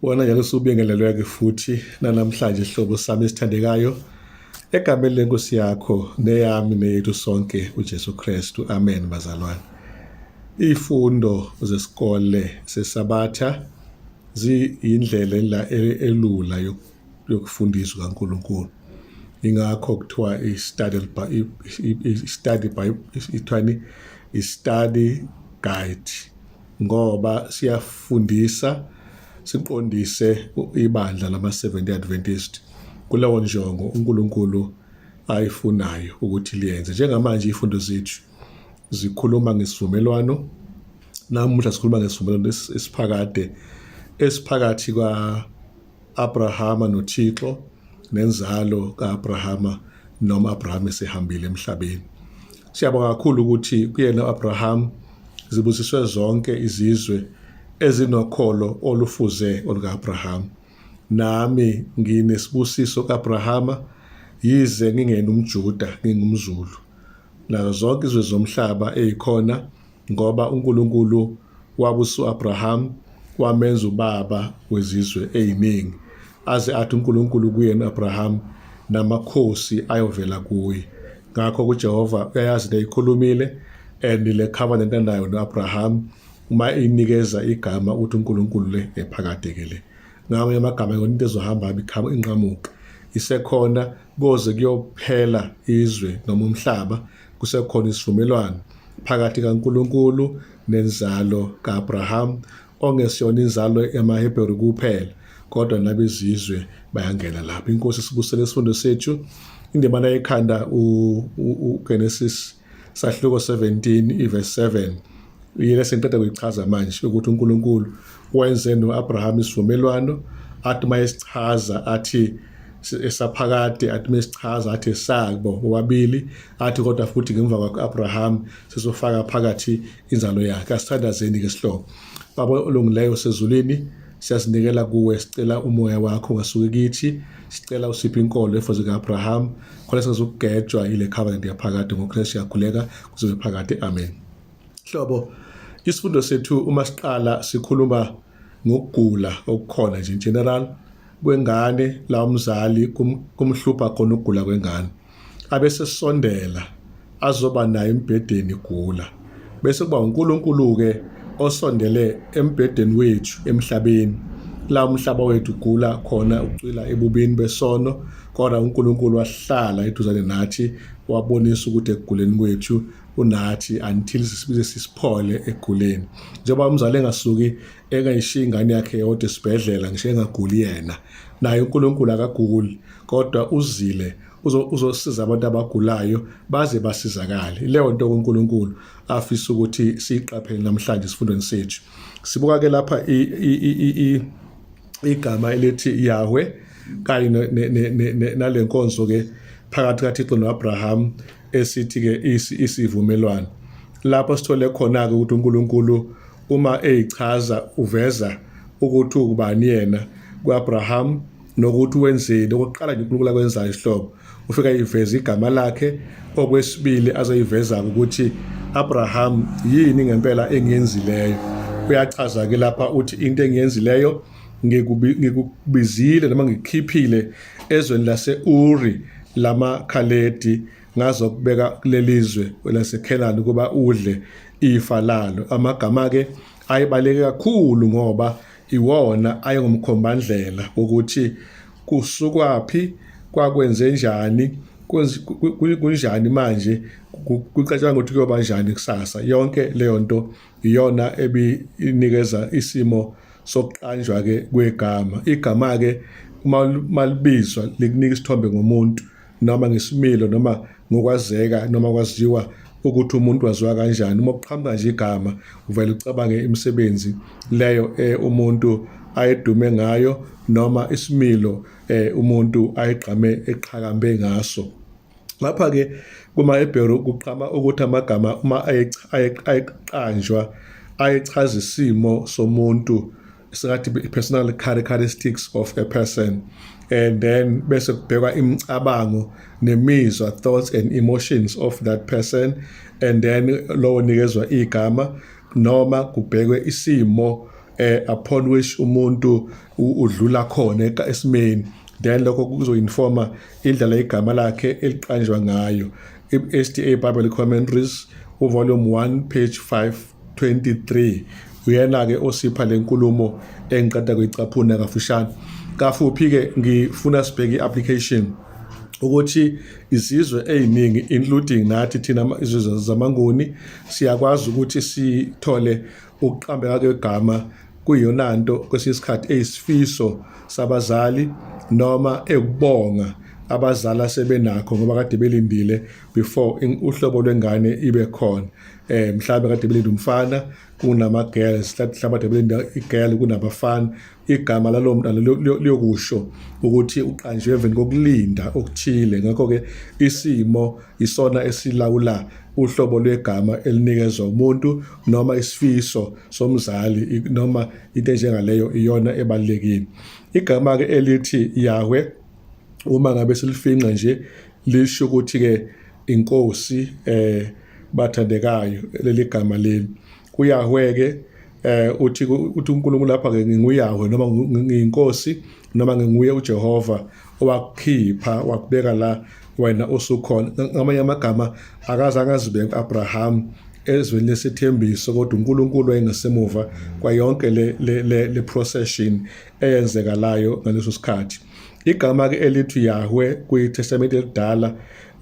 wona njalo subingelelwe-ke futhi nanamhlanje sihlobo sami esithandekayo egameni lenkosi yakho neyami neyethu sonke ujesu kristu amen bazalwane iy'fundo zesikole sesabatha ziyindlela e-, elula yokufundisa ukaNkulunkulu ingakho kuthiwa i-study i-study by ithwani i-study guide ngoba siyafundisa siqondise ibandla lama-70 Adventist kulewo njongo uNkulunkulu ayifunayo ukuthi liyenze njengamanje ifundo zethu zikhuluma ngesivumelwano Namuhla sikhuluma ngesivumelwano esiphakade esiphakathi kwa-Abrahama noThixo nenzalo ka-Abrahama noma Abraham esehambile emhlabeni. Siyabonga kakhulu ukuthi kuyena u-Abraham zibusiswe zonke izizwe ezinokholo olufuze oluka-Abraham. Nami nginesibusiso ka-Abrahama yize ngingena umJuda ngingumZulu. Nazo zonke izwe zomhlaba ezikhona ngoba uNkulunkulu wabusa uAbraham wamenza ubaba wezizwe eziningi aze athi uNkulunkulu kuyena uAbraham namakhosi ayovela kuye ngakho kuJehova uyayazi neyikhulumile and le covenant anayo noAbraham uma inikeza igama uthi uNkulunkulu le ephakade ke le ngawo yamagama yona into ezohamba ibikhama inqamuka isekhona koze kuyophela izwe noma umhlaba Kusekhona isivumelwano phakathi kaNkulunkulu nenzalo ka-Abraham ongesiyona inzalo yamaHebheru kuphela kodwa nabezizwe bayangena lapho. Inkosi sibusele isifundo sethu indimana yekhanda uGenesis sahluko 17 iverse 7 yile sengiqeda kuyichaza manje ukuthi uNkulunkulu wenze noAbraham isivumelwano athi mayesichaza athi esaphakade athi mesichaza athi sabo wabili athi kodwa futhi ngemva kwaka-abraham sizofaka phakathi inzalo yakhe asithandazeni ke sihlobo baba olungileyo sezulwini siyazinikela kuwe sicela umoya wakho ungasuki kithi sicela usiphe inkolo efuze ka-abraham khona singazukugejwa yile covenant yaphakade ngokristu siyakhuleka kuzobe phakade amen hlobo isifundo sethu uma siqala sikhuluma ngokugula okukhona nje general kwengane la umzali kumhlupha khona ukugula kwengane abese sondela azoba naye embhedeni gula bese kuba uNkulunkulu ke osondele embhedeni wethu emhlabeni la umhlaba wethu gula khona ucwila ebubini besono kodwa uNkulunkulu wahlala eduzane nathi wabonisa ukuthi ekuguleni kwethu unathi until sisibize sisiphole eguleni njengoba umzali engasuki engayishiya ingane yakhe yodwa esibhedlela ngisho engaguli yena naye uNkulunkulu akaguli kodwa uzile uzosiza abantu abagulayo baze basizakale leyo nto uNkulunkulu afisa ukuthi siyiqaphele namhlanje isifundweni sethu sibuka ke lapha igama elithi Yahweh kanye nalenkonzo ke phakathi kaThixo noAbraham esithi-ke isivumelwano lapho sithole khona-ke ukuthi uNkulunkulu uma eyichaza uveza ukuthi ukubani yena ku-Abraham nokuthi wenzeni okokuqala nje uNkulunkulu akwenzayo isihlobo ufika yiveza igama lakhe okwesibili azoyiveza-ke ukuthi Abraham yini ngempela engiyenzileyo uyachaza-ke lapha uthi into engiyenzileyo ngikubizile noma ngikhiphile ezweni lase-uri lamakhaledi ngazokubeka kuleli zwe lasekhenani ukuba udle ifa lalo amagama-ke ayebaleke kakhulu ngoba iwona ayengumkhombandlela wokuthi kusukwaphi kwakwenze njani kunjani manje kucatshangwa ukuthi kuyoba njani kusasa yonke leyo nto iyona ebinikeza isimo sokuqanjwa ke kwegama igama ke uma malibizwa likunika isithombe ngomuntu noma ngesimilo noma ngokwazeka noma kwaziwa ukuthi umuntu waziwa kanjani uma kuqhamuka nje igama uvele ucabange imisebenzi leyo eh, umuntu ayedume ngayo noma isimilo eh, umuntu ayigqame eqhakambe ngaso Lapha-ke kumaHebheru kuqhama ukuthi amagama uma ayeqanjwa ayechaza isimo somuntu singathi personal characteristics of a person and then bese kubhekwa imicabango nemizwa thoughts and emotions of that person and then lowo nikezwa igama noma kubhekwe isimo eh upon which umuntu udlula khona esimeni then lokho kuzoinforma idlala igama lakhe eliqanjwa ngayo i-SDA Bible Commentaries uvolume 1 page 523 uyena-ke osipha le nkulumo engiqeda kuyicaphuna kafushane kafuphi-ke ngifuna sibheke i-application ukuthi izizwe eziningi including nathi thina izizwe zamanguni siyakwazi ukuthi sithole Ukuqambeka kwegama kuyiyona nto kwesinye isikhathi eyisifiso sabazali noma ekubonga abazali asebenakho ngoba kade belindile before uhlobo lwengane ibe khona eh mhlawumbe kade belinde umfana kunama girls mhlawumbe kade belinde igirl kunabafana igama lalo mntana liyokusho ukuthi uqanjwe emveni kokulinda okuthile ngakho-ke isimo isona esilawula uhlobo lwegama elinikezwa umuntu noma isifiso somzali noma into enjengaleyo iyona ebalulekile igama-ke elithi yahwe uma ngabe silifinqa nje lisho ukuthi-ke inkosi um bathandekayo leli gama leli kuyahwe ke eh uthi uthi uNkulunkulu lapha ke nginguyahwe noma ngiyinkosi noma nginguye uJehova owakukhipha wakubeka la wena usukhona ngamanye amagama akaze angazibeka uAbraham ezweni lesithembiso kodwa uNkulunkulu wayengesemuva kwayonke le le le procession eyenzekalayo ngaleso sikhathi igama ke elithi Yahweh kwiTestamente elidala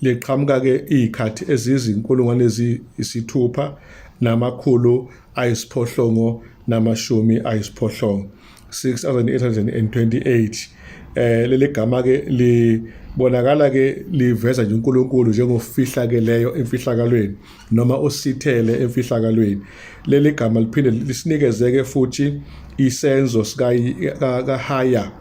liqhamuka ke izikhathi ezizinkulungwane eziyisithupha namakhulu ayisiphohlongo namashumi ayisiphohlongo 6828 eh leli gama ke libonakala ke liveza nje uNkulunkulu njengofihla ke leyo emfihlakalweni noma osithele emfihlakalweni leli gama liphinde lisinikeze ke futhi isenzo sika kahaya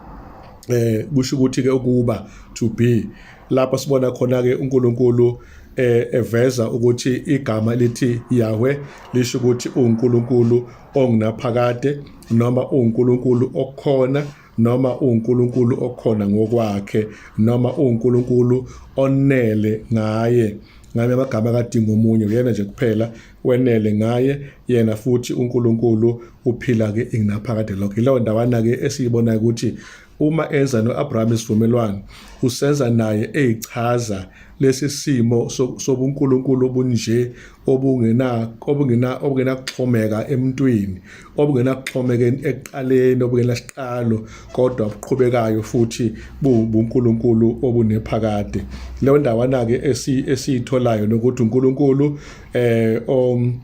eh kusho ukuthi ke ukuba to be lapho sibona khona ke uNkulunkulu eh, eveza ukuthi igama lithi Yahweh lisho ukuthi uNkulunkulu ongunaphakade noma uNkulunkulu okhona noma uNkulunkulu okhona ngokwakhe noma uNkulunkulu onele ngaye ngame amagama kadinga omunye uyena nje kuphela wenele ngaye yena futhi uNkulunkulu uphila ke inginaphakade lokho ileyo ndawana ke esiyibona ukuthi Uma enza no-Abrahama isivumelwano, usenza naye eyichaza lesi simo sobunkulunkulu obunje obungenakuxhomeka emntwini, obungenakuxhomeka ekuqaleni, obungenasiqalo, kodwa obuqhubekayo futhi buwubunkulunkulu obunephakade. Leyo ndawana-ke esiyitholayo nokuthi uNkulunkulu um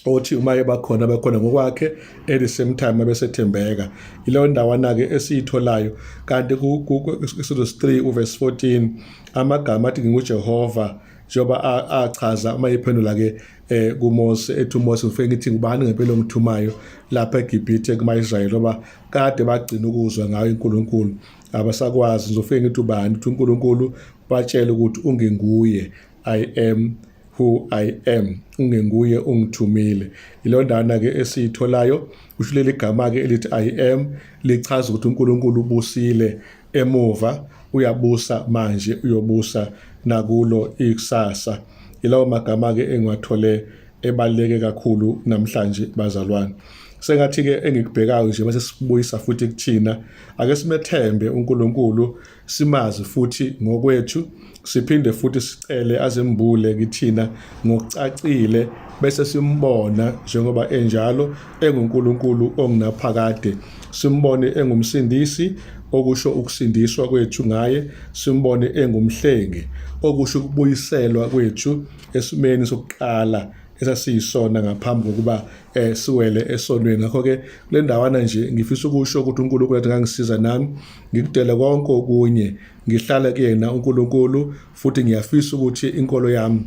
othi uma ebakhona abekhona ngokwakhe at the same time abesethembeka ileyo ndawana-ke esiyitholayo kanti ku-exodus 3 uverse 14 amagama athi ngingujehova njengoba achaza uma ephendula-ke eh kuMose ethi uMose ngifike ngithi ngubani ngempela ongithumayo lapha eGibhithe kuma-Israyeli ngoba kade bagcina ukuzwa ngayo uNkulunkulu abasakwazi ngizofike ngithi ubani uthi uNkulunkulu batshele ukuthi unginguye I am who I am ungenguye ungithumile ilondana ke esiyitholayo usho leli gama ke elithi I am lichaza ukuthi uNkulunkulu ubusile emuva uyabusa manje uyobusa nakulo ikusasa ilawo magama ke engiwathole ebaleke kakhulu namhlanje bazalwane sengathi ke engikubhekayo nje bese sibuyisa futhi kuthina ake simethembe uNkulunkulu simazi futhi ngokwethu siphinde futhi sicele azembule kithina ngokucacile bese simbona njengoba enjalo enguNkulunkulu ongunaphakade simbone engumsindisi okusho ukusindiswa kwethu ngaye simbone engumhlengi okusho ukubuyiselwa kwethu esimeni sokuqala esasiyisona ngaphambi kokuba eh siwele esonweni ngakho ke kulendawana nje ngifisa ukusho ukuthi uNkulunkulu athi ngangisiza nami ngikudele konke okunye ngihlale kuyena uNkulunkulu futhi ngiyafisa ukuthi inkolo yami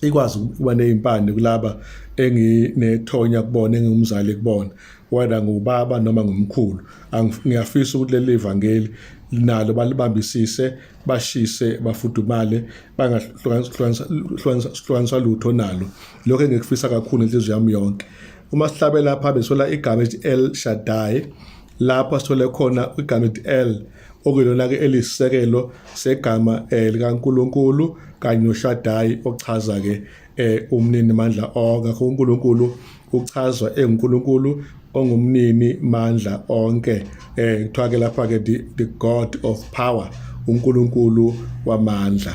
ikwazi ukuba nezimpande kulaba enginethonya kubona engingumzali kubona whether ngubaba noma ngumkhulu ngiyafisa ukuthi leli vangeli nalo balibambisise bashise bafudumale bangahlukaniswa lutho nalo lokho engikufisa kakhulu inhliziyo yami yonke uma sihlabe lapha besola igama elithi el shaddai lapha sithole khona igama elithi el okuyilona-ke elisisekelo segama um likankulunkulu kanye noshadayi ochaza-ke um umnini mandla onke akho unkulunkulu uchazwa engunkulunkulu ongumnini mandla onke um kuthiwa-ke lapha-ke the god of power unkulunkulu wamandla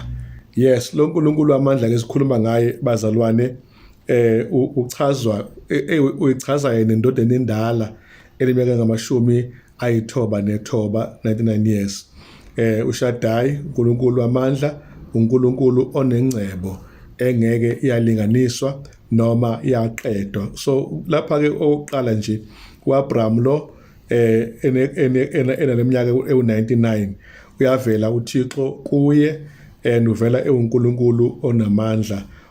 yes lo nkulunkulu wamandla ke sikhuluma ngaye bazalwane eh uchazwa e, e, uyichaza yena indoda enindala eliminyaka ngamashumi ayithoba nethoba 99 years eh uShadai uNkulunkulu wamandla uNkulunkulu onengcebo engeke iyalinganiswa noma yaqedwa so lapha ke oqala nje uAbraham lo eh enaleminyaka ewu99 uyavela uThixo kuye and uvela ewuNkulunkulu onamandla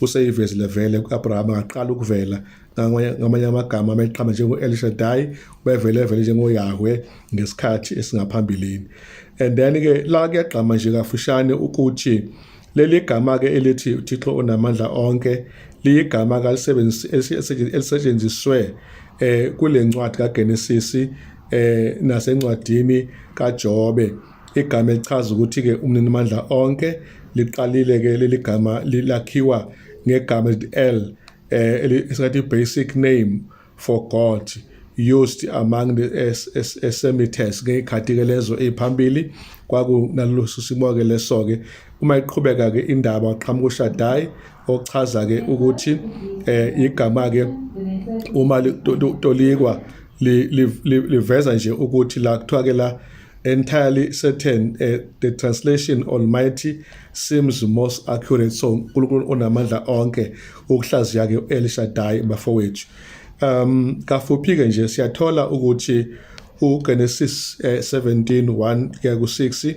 useyivezile vele ku-abrahama ngaqala ukuvela ngamanye amagama ameqhama njengo-el shadai ubevele vele njengoyahwe ngesikhathi esingaphambilini and then-ke la kuyagqama nje kafushane ukuthi leli gama-ke elithi uthixo unamandla onke liyigama elisetshenziswe eh kule ncwadi kaGenesisi eh nasencwadini kaJobe Igama elichaza ukuthi-ke umninimandla onke liqalile-ke leli gama lakhiwa ngegama elithi el um esingathi i-basic name for god used among the esemites ngey'khathi-ke lezo ey'phambili kwakunalolosu simo-ke leso-ke uma iqhubeka-ke indaba waqhamuka ushadayi ochaza-ke ukuthi um igama-ke uma tolikwa liveza nje ukuthi la kuthiwa-ke la entirely certain uh, the translation almighty seems most accurate so uNkulunkulu onamandla onke ukuhlaziya ke El Shaddai bafowethu um kafuphi ke nje siyathola ukuthi uGenesis 17:1 eh, kuya ku6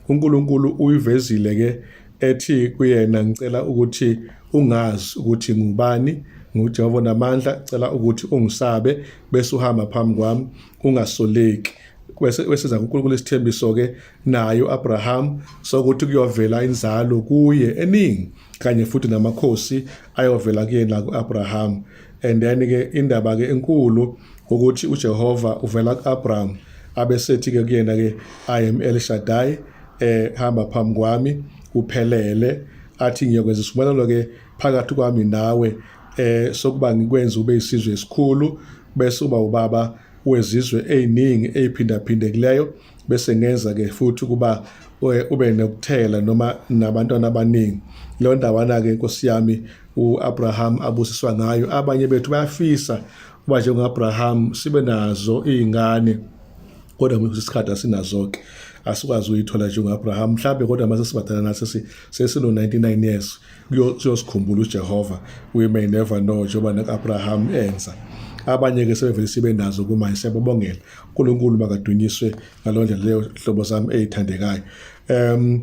uNkulunkulu uyivezile ke ethi kuyena ngicela ukuthi ungazi ukuthi ngubani nguJehova namandla cela ukuthi ungisabe bese uhamba phambi kwami ungasoleki wesiza kuNkulunkulu isithembiso ke naye uAbraham sokuthi kuyovela inzalo kuye eningi kanye futhi namakhosi ayovela kuyena kuAbraham and then ke indaba ke enkulu ukuthi uJehova uvela kuAbraham abesethi ke kuyena ke I am El Shaddai eh hamba phambi kwami uphelele athi ngiyokwenza isivumelwano ke phakathi kwami nawe eh sokuba ngikwenza ube isizwe esikhulu bese uba ubaba wezizwe eziningi eziphindaphindekileyo bese ngenza ke futhi kuba eh, ube nokuthela noma nabantwana abaningi leyo ndawana ke inkosi yami uAbraham abusiswa ngayo abanye bethu bayafisa uba njengoAbraham sibe nazo izingane kodwa mhlawumbe isikhathi asinazo ke asikwazi uyithola njengoAbraham mhlawumbe kodwa mase sibadala nathi sesino 99 years kuyosikhumbula uJehova we may never know njengoba nekaAbraham enza abanye ke sebevele sibe nazo kuma siyababongela uNkulunkulu makadunyiswe ngalondlela leyo hlobo sami ezithandekayo um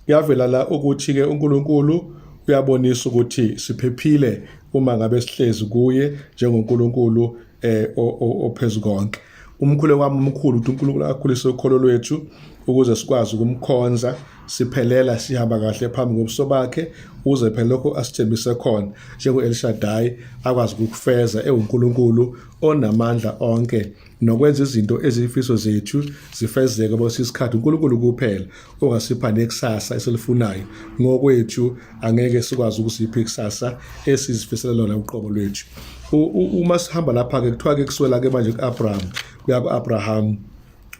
kuyavela la ukuthi ke uNkulunkulu uyabonisa ukuthi siphephile uma ngabe sihlezi kuye njengoNkulunkulu eh ophezulu konke Umkhuleko wami omkhulu ukuthi uNkulunkulu akhulise ukholo lwethu ukuze sikwazi ukumkhonza siphelela sihamba kahle phambi kobuso bakhe uze phela lokho asithembise khona njengo-elishadayi akwazi ukukufeza ewunkulunkulu onamandla onke nokwenza izinto eziyifiso zethu zifezeke bose isikhathi unkulunkulu kuphela ongasipha nekusasa esilifunayo ngokwethu angeke sikwazi ukusipha ikusasa esizifisela lona uqobo lwethu uma sihamba lapha ke kuthiwa ke kuswela ke manje ku-Abraham kuya ku-Abraham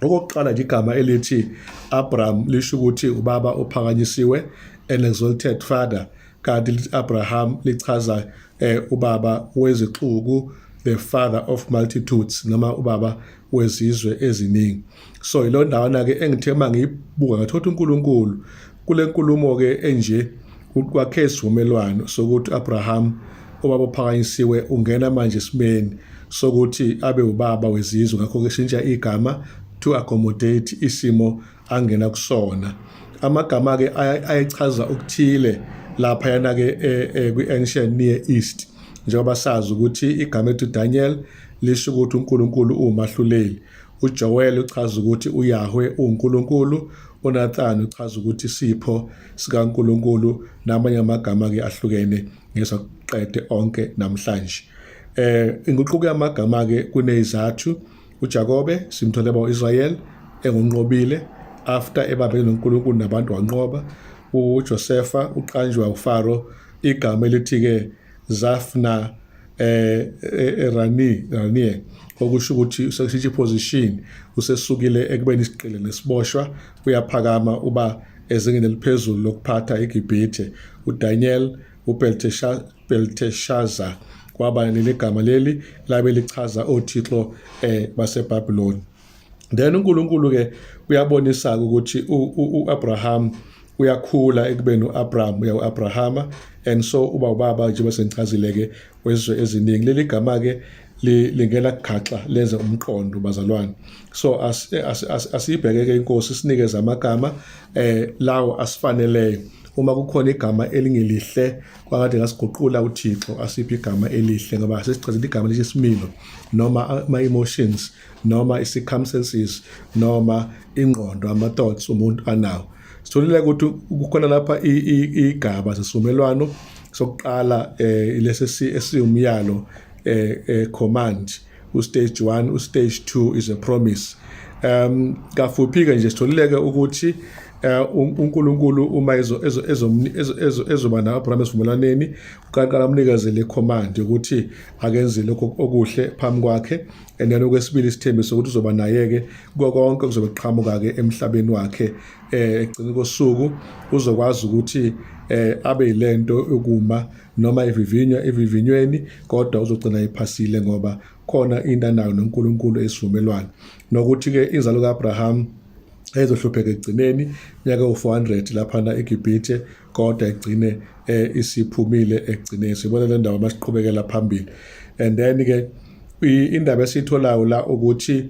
okokuqala nje igama elithi Abraham lisho ukuthi ubaba ophakanyisiwe an exalted father kanti lithi Abraham lichaza eh, ubaba wezixuku the father of multitudes noma ubaba wezizwe eziningi so yilo ndawana ke engithe uma ngiyibuka ngathola uNkulunkulu kule nkulumo ke enje kwakhe isivumelwano sokuthi Abraham ubaba ophakanyisiwe ungena manje esimeni sokuthi abe ubaba wezizwe ngakho ke shintsha igama to accommodate isimo angena kusona amagama ke ayechaza ukuthile lapha yana ke eh, eh, kwi ancient near east njengoba sazi ukuthi igama ethi Daniel lisho ukuthi uNkulunkulu uwumahluleli uJoel uchaza ukuthi uYahweh uNkulunkulu uNathan uchaza ukuthi isipho sikaNkulunkulu namanye amagama ke ahlukene ngesokuqede onke namhlanje eh inguquko yamagama ke kunezathu uJakobe simthole ba uIsrael engunqobile after ebambene noNkulunkulu nabantu wanqoba uJosefa uqanjwa uFaro igama elithi ke Zafna eh, eh, eh Rani Rani okusho ukuthi useshiya position usesukile ekubeni isiqile nesiboshwa uyaphakama uba ezingeni eliphezulu lokuphatha eGibhithe uDaniel uBelteshazzar Belteshaza kwaba leli gama leli labe lichaza othixo eh baseBabylon then uNkulunkulu ke uyabonisa ukuthi uAbraham uyakhula ekubeni uAbraham uya uAbrahama and so uba ubaba nje basengichazile ke wezwe eziningi leli gama ke lingena kughaxa lenze umqondo bazalwane so asiyibheke ke inkosi sinikeze amagama eh lawo asifaneleyo uma kukhona igama elingelihle kwakade ngasiguqula uthixo asiphi igama elihle ngoba sesicazela igama lisho isimilo noma ama-emotions noma i-circumstances noma ingqondo ama-thoughts umuntu anawo sitholile ukuthi kukhona lapha igaba zesivumelwano sokuqala um lesi esiwumyalo um command ustage 1 ustage 2 is a promise um kafuphi ke nje sitholileke ukuthi eh, uNkulunkulu uma ezo ezo ezo ezoba na Abraham esivumelwaneni uqala umnikezele command ukuthi akenze lokho okuhle phambi kwakhe and then okwesibili isithembiso ukuthi uzoba naye ke konke kuzobe kuqhamuka ke emhlabeni wakhe eh egcina kosuku uzokwazi ukuthi eh abe yilento ukuma noma ivivinywa evivinyweni kodwa uzogcina iphasile ngoba khona into anayo noNkulunkulu esivumelwano nokuthi ke inzalo kaAbraham ezohlupheka ekugcineni nyaka u400 lapha na eGibhithe kodwa egcine eh, isiphumile ekugcineni sibona le ndawo masiqhubekela phambili and then ke indaba esitholayo la ukuthi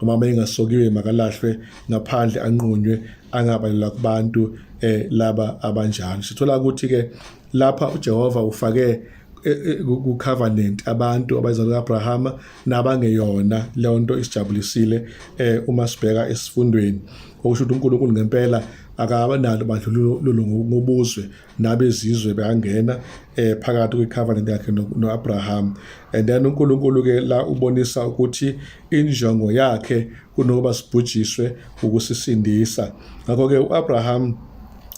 noma bengasokiwe makalahlwe ngaphandle anqunywe angabalelwa kubantu eh laba abanjalo sithola ukuthi ke lapha uJehova ufake eh, eh, ku covenant abantu abazalwa kaAbrahama nabangeyona leyo nto isijabulisile eh uma sibheka esifundweni okusho ukuthi uNkulunkulu ngempela akabanalo bandlululo ngobuzwe nabezizwe bangena eh phakathi kwecovenant yakhe noAbraham and then uNkulunkulu ke la ubonisa ukuthi injongo yakhe kunokuba sibhujiswe ukusisindisa ngakho ke uAbraham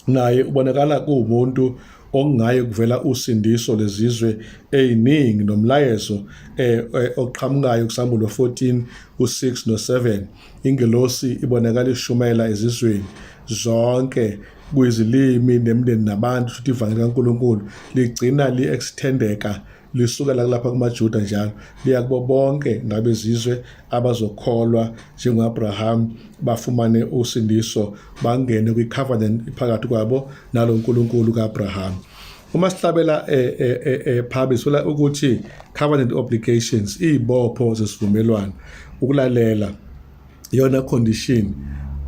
naye ubonakala kuwumuntu okungaye kuvela usindiso lezizwe eziningi nomlayezo eh, eh oqhamukayo kuSambulo 14 u6 no7 ingelosi ibonakala ishumayela ezizweni zonke kuyizilimi nemndeni nabantu futhi ivangeli kaNkulunkulu ligcina li-extendeka lisukela kulapha kumaJuda njalo liya kubo bonke ngabezizwe abazokholwa njengoAbraham bafumane usindiso bangene kwicovenant phakathi kwabo nalo uNkulunkulu kaAbraham uma sihlabela eh, eh, eh, eh phabi sola ukuthi covenant obligations izibopho zesivumelwano ukulalela iyona condition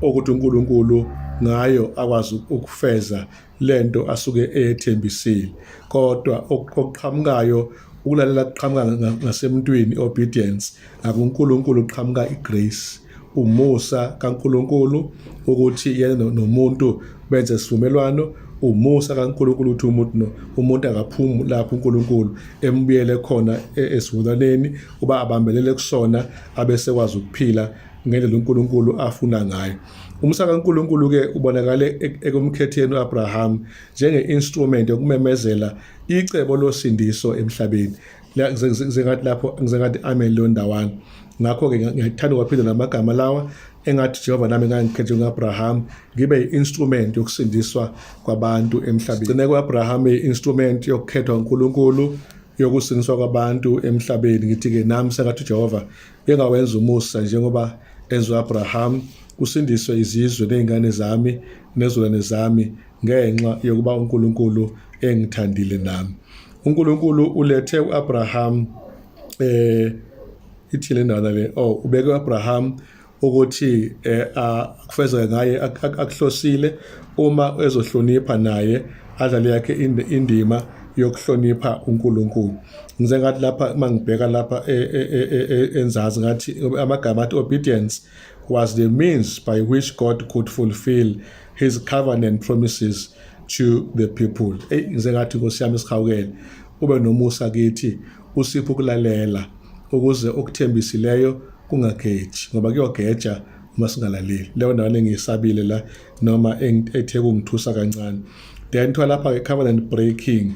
okuthi uNkulunkulu ngayo akwazi ukufeza lento asuke eyethembisile kodwa okuqhamukayo ukulalela kuqhamuka ngasemntwini obedience akuNkulunkulu uqhamuka igrace umusa kaNkulunkulu ukuthi yena nomuntu benze isivumelwano umusa kaNkulunkulu ukuthi umuntu no umuntu akaphumi lapho uNkulunkulu embuyele khona e-, esivulaneni uba abambelele kusona abesekwazi ukuphila ngendlela uNkulunkulu afuna ngayo umsa kaNkulunkulu ke ubonakale e-, ekumkhetheni uAbraham njengeinstrument yokumemezela icebo losindiso emhlabeni ngizengathi lapho ngizengathi amen leyo ndawana ngakho ke ngiyathanda ukwaphinda namagama lawa engathi Jehova nami ngangikhethe uAbraham ngibe yi-instrument yokusindiswa kwabantu emhlabeni. Gcine kuAbraham i-instrument yokukhethwa uNkulunkulu yokusiniswa kwabantu emhlabeni ngithi-ke nami sengathi ujehova engawenza umusa njengoba enziwa abraham kusindiswe izizwe ney'ngane zami nezulwane zami ngenxa yokuba unkulunkulu engithandile nami unkulunkulu ulethe u-abraham um eh, ithile ndana le oh ubeke u-abraham ukuthi eh, akufezeke ngaye akuhlosile uma ezohlonipha naye adlale yakhe indima yokuhlonipha uNkulunkulu ngize ngathi lapha uma ngibheka lapha e, e, e, enzazi ngathi amagama athi obedience was the means by which God could fulfill his covenant promises to the people eyi ngize ngathi nkosi yami sihawukele ube nomusa kithi Usiphe ukulalela ukuze okuthembisileyo kungageji ngoba kuyogeja uma singalaleli leyo ndawana engiyisabile la noma ethe kungithusa kancane then kuthiwa lapha-ke covenant breaking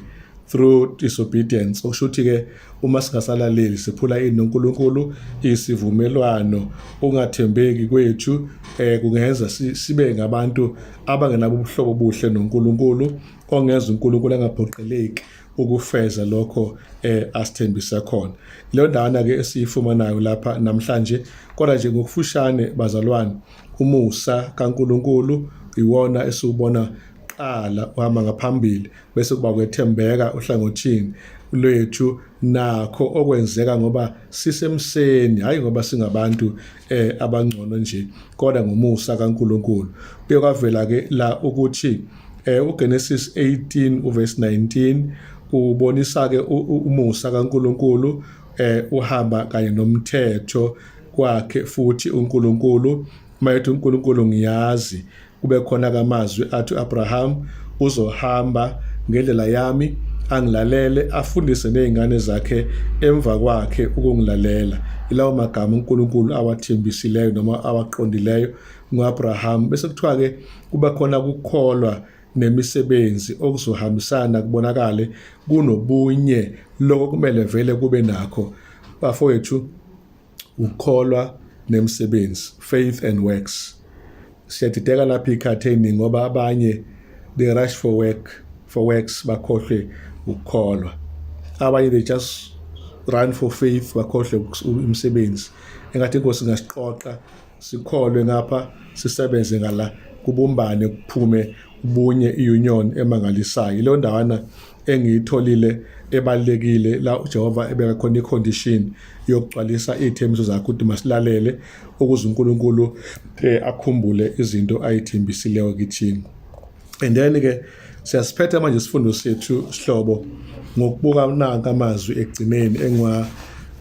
through disobedience okusho ukuthi-ke uma singasalaleli siphula ini nonkulunkulu isivumelwano ungathembeki kwethu um eh, kungenza sibe ngabantu abangenabo ubuhlobo obuhle nonkulunkulu ongenza unkulunkulu angaphoqeleki ukufeza lokho eh asithembisa khona leyo ndawana ke esiyifumanayo lapha namhlanje kodwa nje ngokufushane bazalwane umusa kaNkuluNkulu iwona esiwubona qala uhamba ngaphambili bese kuba kwethembeka uhlangothini lwethu nakho okwenzeka ngoba sisemseni hayi ngoba singabantu eh abangcono nje kodwa ngomusa kaNkuluNkulu kuye kwavela ke la ukuthi Eh uGenesis 18 uverse 19 ubonisa ke umusa kaNkuluNkulu eh uhamba kanye nomthetho kwakhe futhi uNkulunkulu mayethi uNkulunkulu ngiyazi kube khona kamazwi athi Abraham uzohamba ngendlela yami angilalele afundise nezingane zakhe emva kwakhe ukungilalela ilawo magama uNkulunkulu awathembisileyo noma awaqondileyo ngoAbraham bese kuthiwa ke kuba khona ukukholwa nemisebenzi okuzohambisana kubonakale kunobunye lokho kumele vele kube nakho bafowethu ukukholwa nemisebenzi faith and works siyadideka lapha ikhatheni ngoba abanye they rush for work for works bakhohlwe ukukholwa abanye they just run for faith bakhohlwe umsebenzi engathi inkosi ingasiqoqa sikholwe ngapha sisebenze ngala kubumbane kuphume ubunye iunion emangalisayo leyo ndawana engiyitholile ebalekile la uJehova ebeka khona icondition yokugcwalisa izithembiso zakhe ukuthi masilalele ukuze uNkulunkulu eh, akhumbule izinto ayithembisileyo kithina and then ke siyasiphetha manje isifundo sethu sihlobo ngokubuka nanka amazwi egcineni engwa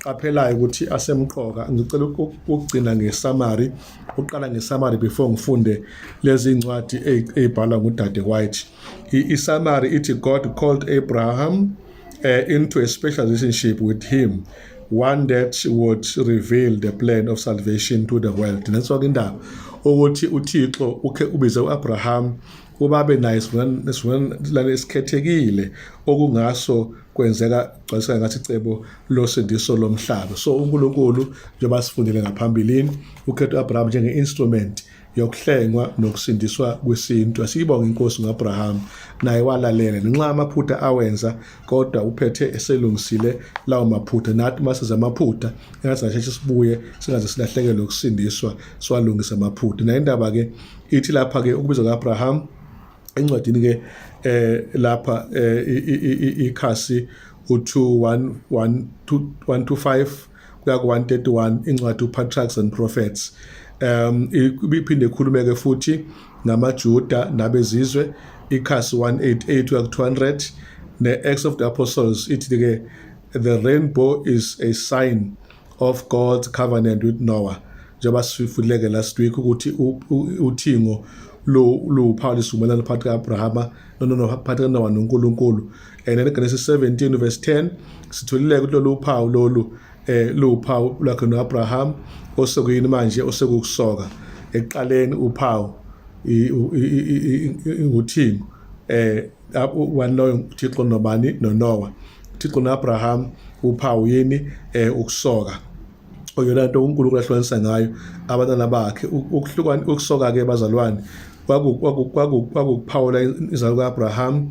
qaphelaya ukuthi asemqoka ngicela ukugcina ngesummary uqala ngesummary before ngifunde lezi incwadi ezibhalwa ngudade White isummary ithi God called Abraham uh, into a special relationship with him one that would reveal the plan of salvation to the world nenso-ke indaba ukuthi uthixo ukhe ubize u-abraham ubabe naye sivumelane esikhethekile okungaso kwenzeka gcwaliseka ngathi icebo losindiso lomhlaba so unkulunkulu njengoba sifundile ngaphambilini ukhetha u-abraham njenge-instrument yokuhlengwa nokusindiswa kwesintu asiyibonge inkosi ngoAbraham naye walalela ngenxa amaphutha awenza kodwa uphethe eselungisile lawo maphutha nathi masiza amaphutha engathi sasheshe sibuye singaze silahlekelwe ukusindiswa siwalungisa amaphutha nayo indaba ke ithi lapha ke ukubizwa kaAbraham encwadini ke eh lapha eh, ikhasi u2 1 1 2 125 kuya ku-131 incwadi uPatriarchs and Prophets um ibiphinde ikhulumeke futhi ngamaJuda nabezizwe ikhasi 188 kuya ku-200 ne-Acts of the Apostles ithi ke the rainbow is a sign of God's covenant with Noah njengoba sifuleke last week ukuthi uthingo lo lo Paul isivumelano phakathi kaAbrahama no no no phakathi kaNowa noNkulunkulu and eGenesis 17 verse 10 sitholile ukuthi lolu uphawu lolu eh luwuphawu lwakhe noAbraham osekuyini manje osekukusoka ekuqaleni uphawu inguthingo eh waloyo uThixo nobani noNoah uThixo noAbraham uphawu yini eh ukusoka oyona nto uNkulunkulu ahlukanisa ngayo abantwana bakhe ukuhlukana ukusoka ke bazalwane kwakuphawula izalo ka-abraham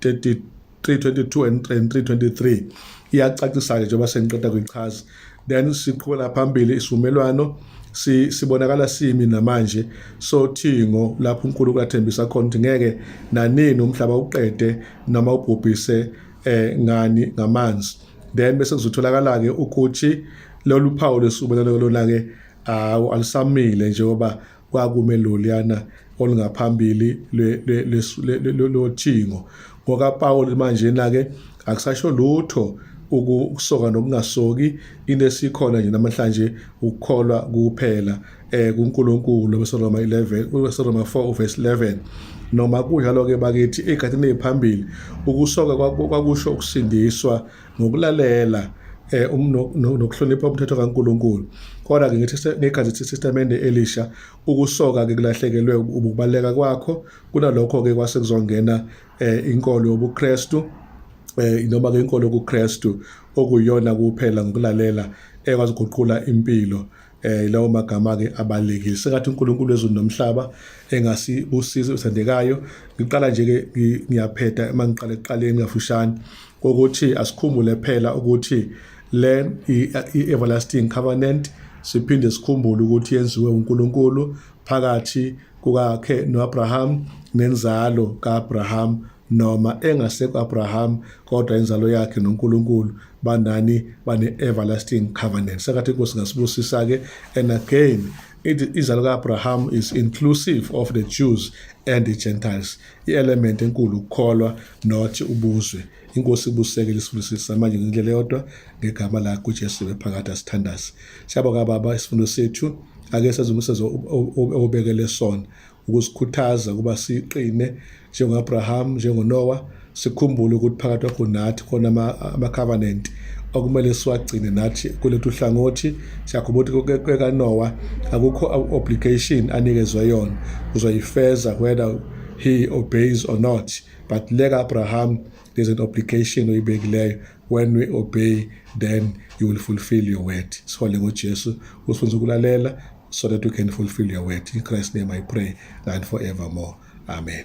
322 and 323 iyacacisa-ke njengoba sengiqeda kuyichaza then siqhubela phambili isivumelwano si sibonakala simi namanje sothingo lapho uNkulunkulu athembisa khona ukuthi ngeke nanini umhlaba uqede noma ubhubhise eh ngani ngamanzi then bese kuzotholakala ke ukuthi lolu phawu lesibonelo lona ke awu alisamile njengoba kwakume loliyana olungaphambili lothingo ngokapawuli manjena-ke akusasho lutho ukusoka nokungasoki into esikhona nje namhlanje ukukholwa kuphela eh kuNkulunkulu besoroma 11 besoroma 4 uverse 11 noma kunjalo ke bakithi egatini eziphambili ukusoka kwakusho ukusindiswa ngokulalela eh um, nokuhlonipha umthetho kaNkuluNkulu kodwa ke ngithi ngekhathi sesistemende elisha ukusoka ke kulahlekelwe ukubaleka kwakho kunalokho ke kwase kuzongena eh inkolo yobuKristu eh noma ke inkolo yokuKristu okuyona kuphela ngokulalela ekwazi ukuguqula impilo eh lawo magama ke abalekile sekathi uNkulunkulu wezulu nomhlaba engasibusiza usendekayo ngiqala nje ke ngiyaphetha uma ngiqala eqaleni kafushane ukuthi asikhumbule phela ukuthi le i-everlasting covenant siphinde sikhumbule ukuthi yenziwe uNkulunkulu phakathi kukakhe noAbraham nenzalo kaAbraham noma engasekho Abraham kodwa inzalo yakhe noNkulunkulu banani bane everlasting covenant sakathi inkosi ngasibusisa ke and again izalo ka-abraham is inclusive of the jews and the gentiles i-element enkulu ukukholwa not ubuzwe inkosi ibuseke lisifundisisa manje ngendlela yodwa ngegama lakho ujesu bephakathi asithandazi siyabonga baba isifundo sethu ake sezumusezo obekele sona ukusikhuthaza ukuba siqine njengo-abraham njengonowa sikhumbule ukuthi phakathi kwakho nathi khona ama-covenant okumele siwagcine nathi kulethu hlangothi siyakhuba ukuthi kwekanowa akukho obligation anikezwe yona uzoyifeza whether he obeys or not but leka abraham there's an obligation oyibekileyo when we obey then you will fulfill your word sifole ngojesu usifundisa ukulalela so that we can fulfill your word in christ's name i pray and forevermore amen